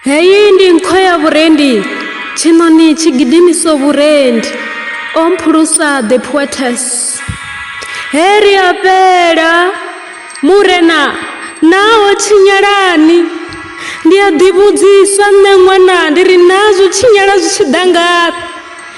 heyi ndi nkho ya vhurendi tshiṋoni tshi gidimiso vhurendi o mphulusa the poetes he ri a fhela murena naho tshinyalani ndi a ḓivhudzisa nṋe ṅwana ndi ri naa zwo tshinyala zwi tshi ḓa ngafhi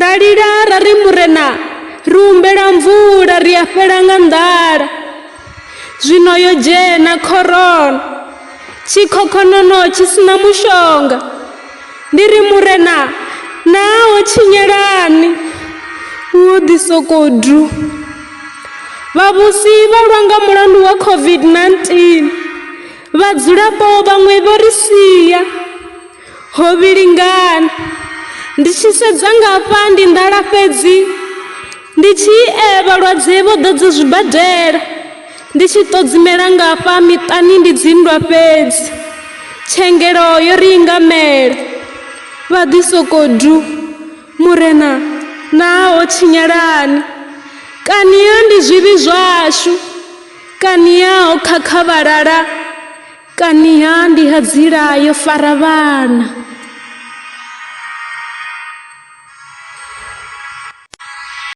Ra lila ra ri Murena, ri humbela mvula ri a fhela nga nḓala. Zwino yo dzhena khorona, tshikhokhonono tshi sina mushonga. Ndi ri Murena, naa ho tshinyelani? Hu ḓi sokou du. Vhavhusi vha lwa nga mulandu wa COVID-19. Vhadzulapo vhaṅwe vho ri sia. Ho vhilingana. Ndi tshi sedza ngafha ndi nḓala fhedzi ndi tshi e vhalwadze vho ḓadza zwibadela ndi tshi ṱodzimela ngafha miṱani ndi dzinndwa fhedzi tshengelo yo ri ingamela vha ḓi soko du murena naa ho tshinyalani kani ya ndi zwivhi zwashu kani ya ho khakha vhalala Kaniha ndi ha dzila yo fara vhana.